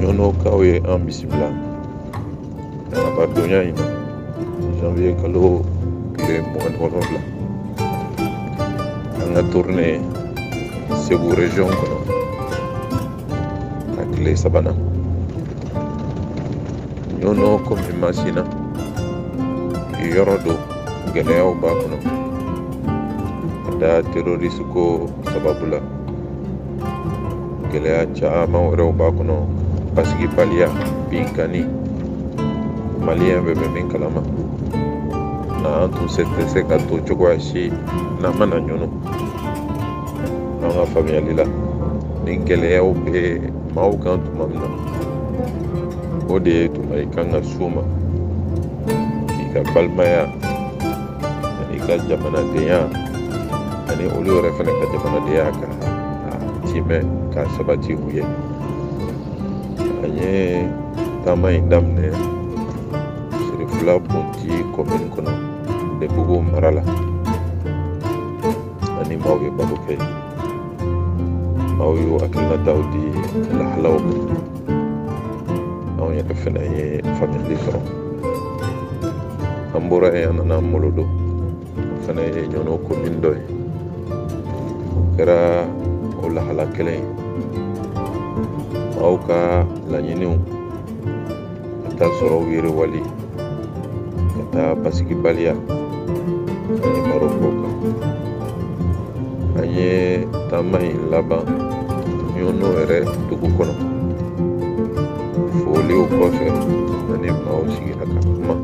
ɲɔnɔkaw ye an bisimila arabadonya in na janvier kalo tile mugan ni wolonwula an ka tourne segu region kɔnɔ a tile sabanan ɲɔnɔ kɔmi masina yɔrɔ don gɛlɛyaw b'a kɔnɔ ka da terorisi ko sababu la gɛlɛya caman wɛrɛw b'a kɔnɔ basigibaliya binkanni maliyɛn bɛɛ bɛ min kalama na an tun se tɛ se ka to cogoya si n'an ma na ɲɔnɔ an ka faamuyali la ni gɛlɛyaw bɛ maaw kan tuma min na o de ye tuma i kan ka s'u ma k'i ka balimaya ani ka jamanadenya ani olu yɛrɛ fana ka jamanadenya k'a tiimɛ k'a sabati u ye an ye taama in daminɛ sirifila bundi kɔmini kɔnɔ debugu mara la an ni maaw ye baro kɛ maaw y'u hakilinataw di lahalaw ma anw yɛrɛ fɛnɛ ye faamuyali sɔrɔ an bɔra yen an nana molodo o fɛnɛ ye ɲɔnɔ komin dɔ ye o kɛra o lahala kelen ye maaw ka laɲiniw k'a ta sɔrɔw yiriwali ka taa basigibaliya an ye baro k'o kan an ye taama in laban ɲɔnɔ yɛrɛ dugu kɔnɔ foliw kɔfɛ an ni maaw sigira ka kuma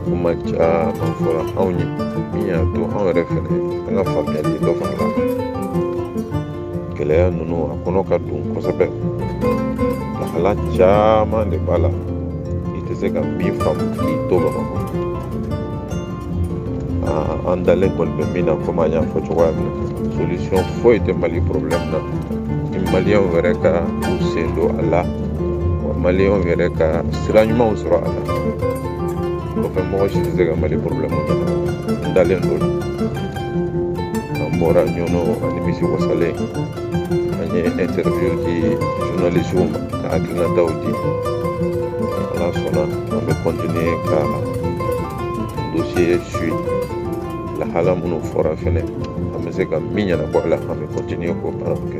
kuma caman fɔra anw ye min y'a to anw yɛrɛ fɛnɛ an ka faamuyali dafala gɛlɛya ninnu a kɔnɔ ka dun kosɛbɛ lahala caman de b'a la i tɛ se ka min faamu k'i to bamakɔ an dalen kɔni bɛ min na komi an y'a fɔ cogoya min na solution foyi tɛ mali problème na ni maliyɛnw yɛrɛ ka u sen don a la wa maliyɛnw yɛrɛ ka sira ɲumanw sɔrɔ a la o kɔfɛ mɔgɔ si tɛ se ka mali problème ɲɛnabɔ n dalen don an bɔra ɲɔnɔ an nimisiwasalen an ye interview di journalisiw ma k'an hakilinataw di ala sɔnna an bɛ kɔntiniye ka dosiye suivre lahala minnu fɔra fɛnɛ an bɛ se ka min ɲɛnabɔ a la an bɛ kɔntiniye k'o baaraw kɛ